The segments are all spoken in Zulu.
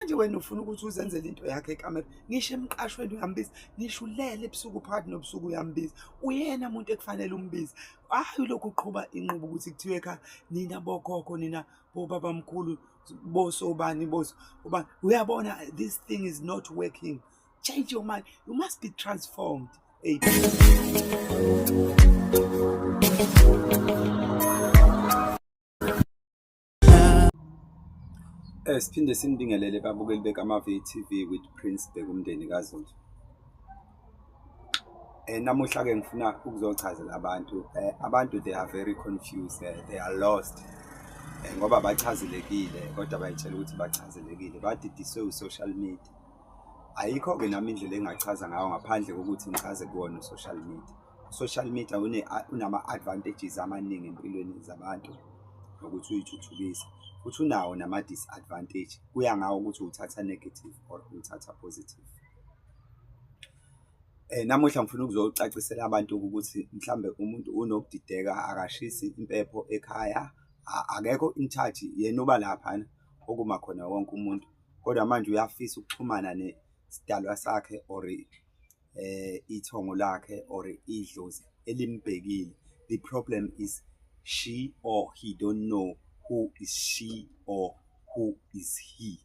manje wena ufuna ukuthi uzenzele into yakhe ekamera ngisho emqashweni uyambiza ngisho ulele ebusuku phakathi nobusuku uyambiza uyena muntu ekufanele umbize hhayi lokhu uqhuba inqubo ukuthi kuthiwe ekhaya nina bokhokho nina bobabamkhulu boso ubani boso ubani uyabona this thing is not working change your mind you must be transformed Eight. Eh siphinde sinibingelele babukeli bekaMavi e TV with Prince Bekumndeni kaZulu. Eh namuhla ke ngifuna ukuzochazela abantu eh abantu they are very confused eh, they are lost. Eh ngoba bachazelekile kodwa bayitshela ukuthi bachazelekile badidiswe u social media. Ayikho ke nami indlela engachaza ngayo ngaphandle kokuthi ngichaze kuwona u social media. social media unama-advantages amaningi empilweni zabantu nokuthi uyithuthukise futhi unawo nama-disadvantage kuya ngawo ukuthi uthatha negative or uthatha positive Eh namuhla ngifuna ukuzocacisela abantu ukuthi mhlambe umuntu unokudideka akashisi impepho ekhaya akekho in charge yena uba lapha okuma khona wonke umuntu kodwa manje uyafisa ukuxhumana nesidalwa sakhe or eh ithongo lakhe or idlozi elimbhekile the problem is she or he don't know who is she or who is he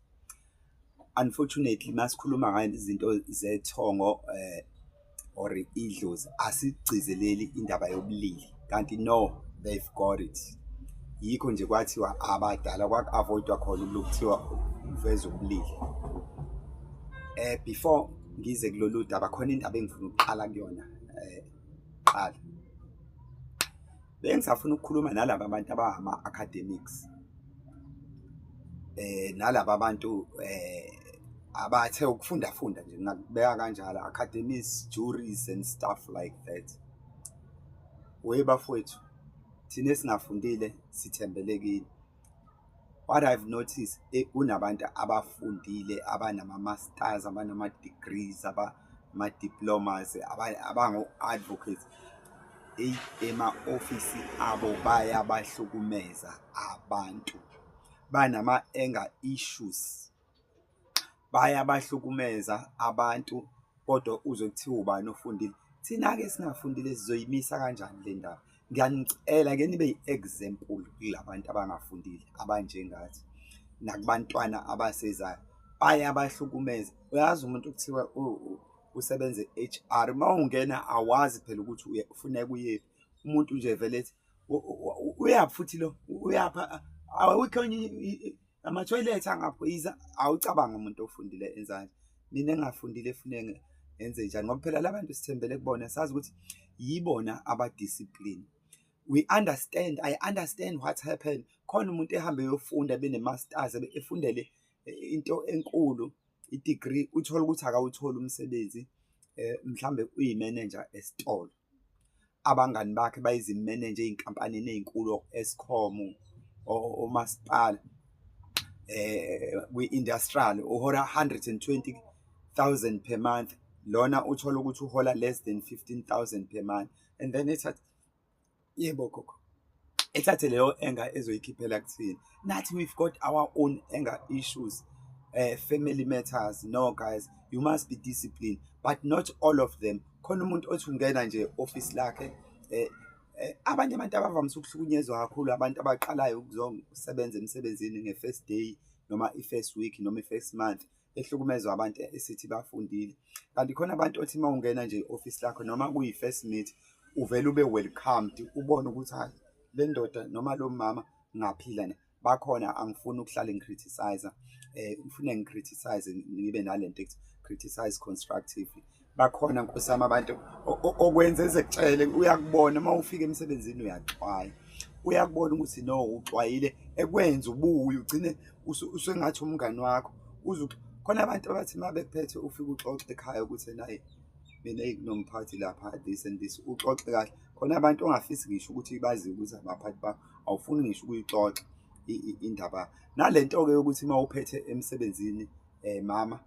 unfortunately masikhuluma ngayo izinto zethongo eh or idlozi asigcizeleli indaba yobulili kanti no they've got it yikho nje kwathiwa abadala kwaku-avoidwa khona ukulu kuthiwa uveza ubulili um eh, before ngize kulolu daba khona indaba engifuna ukuqala kuyona um qala bengisafuna ukukhuluma nalaba bantu abangama-academics eh nalabo abantu eh abathe ukufunda funda nje ngakubeka kanjalo academies juries and stuff like that Wee bafowethu thina esingafundile sithembele kini. What I've noticed eh, kunabantu abafundile abanama-masters abanama-degrees abama-diplomas abango-advocates eyi ema-ofisi abo bayabahlukumeza abantu banama-anger issues. bayabahlukumeza abantu kodwa uzwe kuthiwa ubani ofundile. Thina-ke esingafundile sizoyimisa kanjani le ndaba? Ngiyanicela ke nibe yi-example kula bantu abangafundile abanjengathi nakubantwana abasezayo bayabahlukumeza. Uyazi umuntu kuthiwa usebenza e-HR uma ungena awazi phela ukuthi ufuneka uyephi umuntu nje vele ethi uyaphi futhi lo uyapha awukho amathoyilethi angaphoyisa awucabanga umuntu ofundile enzani mina engafundile efune enze njani ngoba phela labantu sithembele kubona sazi ukuthi yibona abadiscipline we understand i understand what happened khona umuntu ehambe yofunda benemasters efundele eh, into enkulu i-degree uthole ukuthi akawutholi umsebenzi eh mhlambe uyi-manager esitolo abangani bakhe bayizimene nje ezinkampanini ezinkulu Eskom omasipala eh kwi-industrial uhola 120000 per month lona uthola ukuthi uhola less than 15000 per month and then it's yebo gogo ethathe leyo anger ezoyikhiphela kuthini nathi we've got our own anger issues uh, family matters no guys you must be disciplined but not all of them khona umuntu othi ungena nje office lakhe eh, eh abanye abantu abavamise ukuhlukunyezwa kakhulu abantu abaqalayo ukuzosebenza emsebenzini nge-first day noma i-first week noma i-first month ehlukumezwa abantu esithi bafundile kanti khona abantu othi uma ungena nje i-ofisi lakho noma kuyi-first meet uvele ube welcomed ubone ukuthi hayi le ndoda noma lo mama ngaphila na bakhona angifuni ukuhlala ngicriticize eh ngifuna ngicriticize ngibe nalento ethi criticize constructively bakhona nkosi yami abantu okwenza ezekutshele uyakubona uma ufika emsebenzini uyaxwaya uyakubona ukuthi no uxwayile ekwenza ubuye ugcine usengathi umngani wakho uze khona abantu abathi uma bekuphethe ufike uxoxe ekhaya ukuthi naye mina kunomphathi lapha this and this uxoxe kahle khona abantu ongafisi ngisho ukuthi bazi ukuthi abaphathi bakho awufuni ngisho ukuyixoxa indaba nalento-ke yokuthi uma uphethe emsebenzini um mama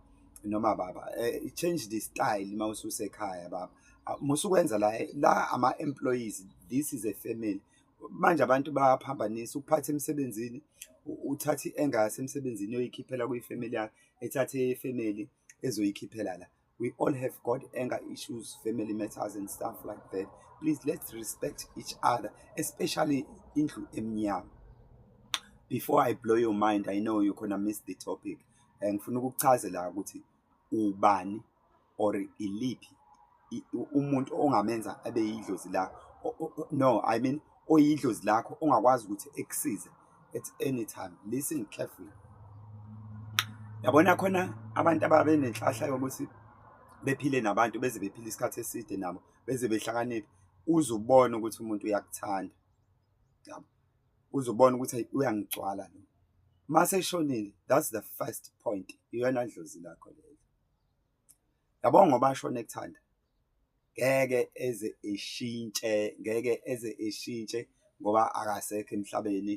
noma baba uh, change the style uma ususekhaya baba ah, musukwenza la la ama employees this is a family manje abantu bayaphambanisa ukuphatha emsebenzini uthathe engase emsebenzini yoyikhiphela kuyifamily yakhe ethathe ifamily ezoyikhiphela la we all have got anger issues family matters and stuff like that please let's respect each other especially indlu emnyama before i blow your mind i know you gonna miss the topic eh, ngifuna ukuchazela ukuthi ubani or iliphi umuntu ongamenza abe yidlozi lakho no i mean oyidlozi lakho ongakwazi ukuthi ekusize at any time listen carefully yabona khona abantu ababe nenhlahla yokuthi bephile nabantu beze bephile isikhathi eside nabo beze behlakaniphe uzubona ukuthi umuntu uyakuthanda yabo uzobona ukuthi ayi uyangigcwala lo mase eshonile that's the first point iyona ndlozi lakho leyo yabo ngoba ashone ekuthanda ngeke eze eshintshe ngeke eze eshintshe ngoba akasekho emhlabeni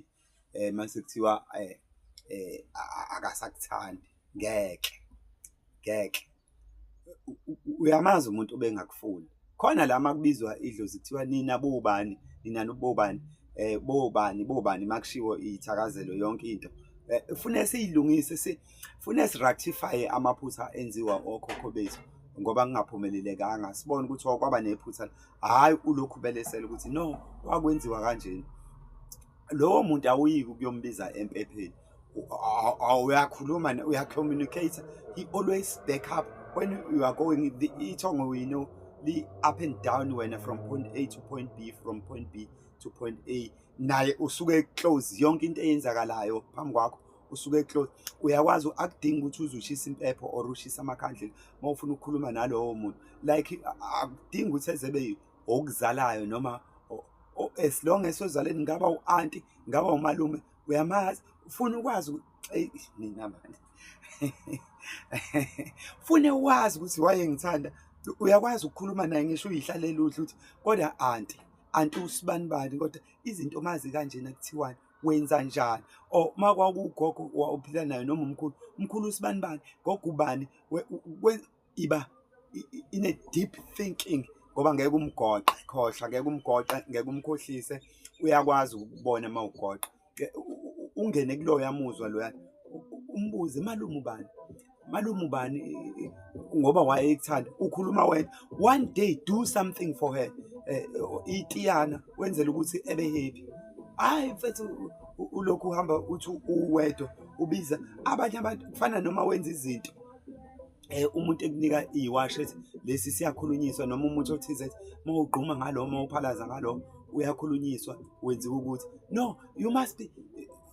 eh mase kuthiwa eh, eh akasakuthandi ngeke ngeke uyamazi umuntu obengakufuni khona la makubizwa idlozi kuthiwa nina bobani nina nobobani eh bobani bobani makushiwo ithakazelo yonke into eh, fune siyilungise si fune si rectify amaphutha enziwa okhokho bethu ngoba kungaphumelelekanga sibone ukuthi kwaba nephutha hayi ulokhu belesela ukuthi no kwakwenziwa kanjena lowo muntu awuyiki ukuyombiza empepheni uyakhuluma uyacommunicate he always back up when you are going the ithongo we know li up and down wena from point a to point b from point b to point a naye usuke close yonke into eyenzakalayo phambi kwakho usuke close uyakwazi akudingi ukuthi uzushisa impepho or ushisa amakhandlela uma ufuna ukukhuluma nalowo muntu like akudingi ukuthi ezebe okuzalayo noma as long as ozaleni ngaba u-anti ngaba umalume uyamazi ufuna ukwazi mina manje fune wazi ukuthi wayengithanda uyakwazi ukukhuluma naye ngisho uyihlalela udla ukuthi kodwa anti anti usibani bani kodwa izinto mazi kanjena kuthiwani wenza njani or uma kwakugogo wawuphila nayo noma umkhulu umkhulu usibani bani gogo ubani iba ine deep thinking ngoba ngeke umgoqe khohlwa ngeke umgoqe ngeke umkhohlise uyakwazi ukubona uma ugoqe ungene kuloyo yamuzwa loya umbuze malume ubani malume ubani ngoba wayekuthanda ukhuluma wena one day do something for her eh, itiyana wenzela ukuthi ebe happy hayi mfethu ulokhu uhamba uthi uwedwa ubiza abanye abantu kufana noma wenza izinto eh umuntu ekunika iwash ethi lesi siyakhulunyiswa noma umuntu othize uma ugquma ngalo uma uphalaza ngalo uyakhulunyiswa wenziwa ukuthi no you must be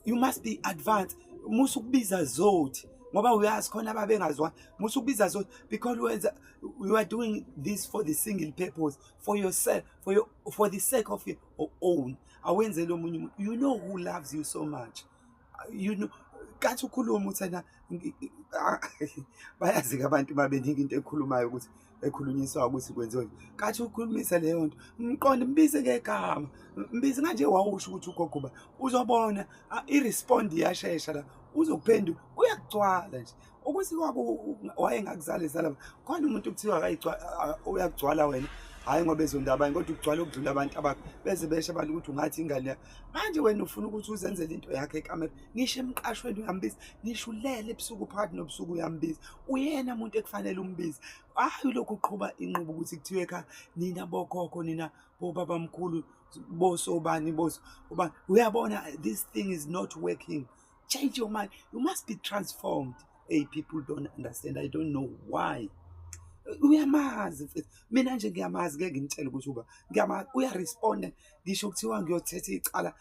you must be advanced musu kubiza zothi ngoba uyazi khona ababengazwani musu kubiza zothi because wenza you are doing this for the single purpose for yourself for your for the sake of your own awenzele omunye umuntu you know who loves you so much you know kathi ukhuluma uthena bayazika abantu babeningi into ekhulumayo ukuthi ekhulunyiswa ukuthi kwenziwe kathi ukhulumisa leyo nto mqonde mbize ngegama mbize nganje wawusho ukuthi ugogoba uzobona i-respond iyashesha la uzokuphenduka uyagcwala nje ukuthi wayengakuzali zala khona umuntu kuthiwa uyakugcwala wena hhayi ngoba ezonda abanye kodwa ukugcwala ukudlula abantu abakho beze besho abantu ukuthi ungathi ingane yakho manje wena ufuna ukuthi uzenzele into yakho ekamera ngisho emqashweni uyambiza ngisho ulele ebusuku phakathi nobusuku uyambiza uyena muntu ekufanele umbize hhayi lokhu uqhuba inqubo ukuthi kuthiwe ekhaya nina bokhokho nina bobabamkhulu bosobani boso ubani uyabona this thing is not working Change your mind. You must be transformed. Hey, people don't understand. I don't know why. uyamazi mfethu mina nje ngiyamazi ngeke ngimtshele ukuthi uba ngiyamazi uyaresponda ngisho kuthiwa ngiyothetha icala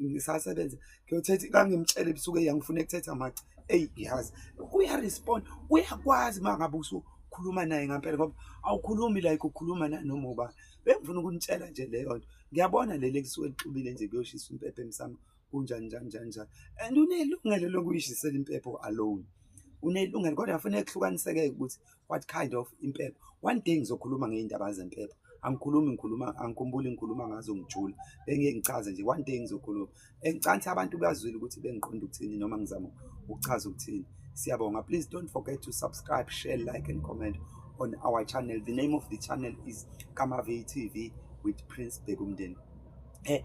ngisasebenze ngiyothetha kangimtshele ebusuku eyangifuna ekuthetha maca eyi ngiyazi uyaresponda uyakwazi uma ngabe usukhuluma naye ngampela ngoba awukhulumi like ukhuluma nanoma ubani bengifuna ukunitshela nje leyo nto ngiyabona leli ekusuke lixubile nje kuyoshisa impepha emsamo kunjani njani njani njani and unelungelo lokuyishisela impepho alone unelungelo kodwa kufanele kuhlukaniseke ukuthi what kind of impepho one day ngizokhuluma ngey'ndaba zempepho angikhulumi ngikhuluma angikhumbuli ngikhuluma ngazo ngijula bengeke ngichaze nje one day ngizokhuluma engicanthi abantu bazwile ukuthi bengiqonda ukuthini noma ngizama ukuchaza ukuthini siyabonga please don't forget to subscribe share like and comment on our channel the name of the channel is kamave tv with prince bekumndeni eh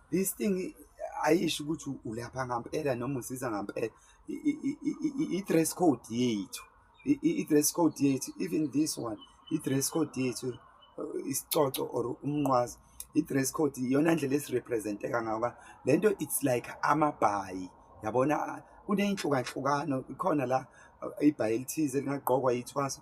this thing ayisho ukuthi ulapha ngampela noma usiza ngampela i-dress code yethu i-dress code yethu even this one i-dress code yethu uh, isicoco or umnqwazi i-dress code iyona ndlela esirepresenteka ngayo ka le nto it's like amabhayi yabona kuneyinhlukahlukano ikhona la uh, ibhayi elithize lingagqokwa yithwaso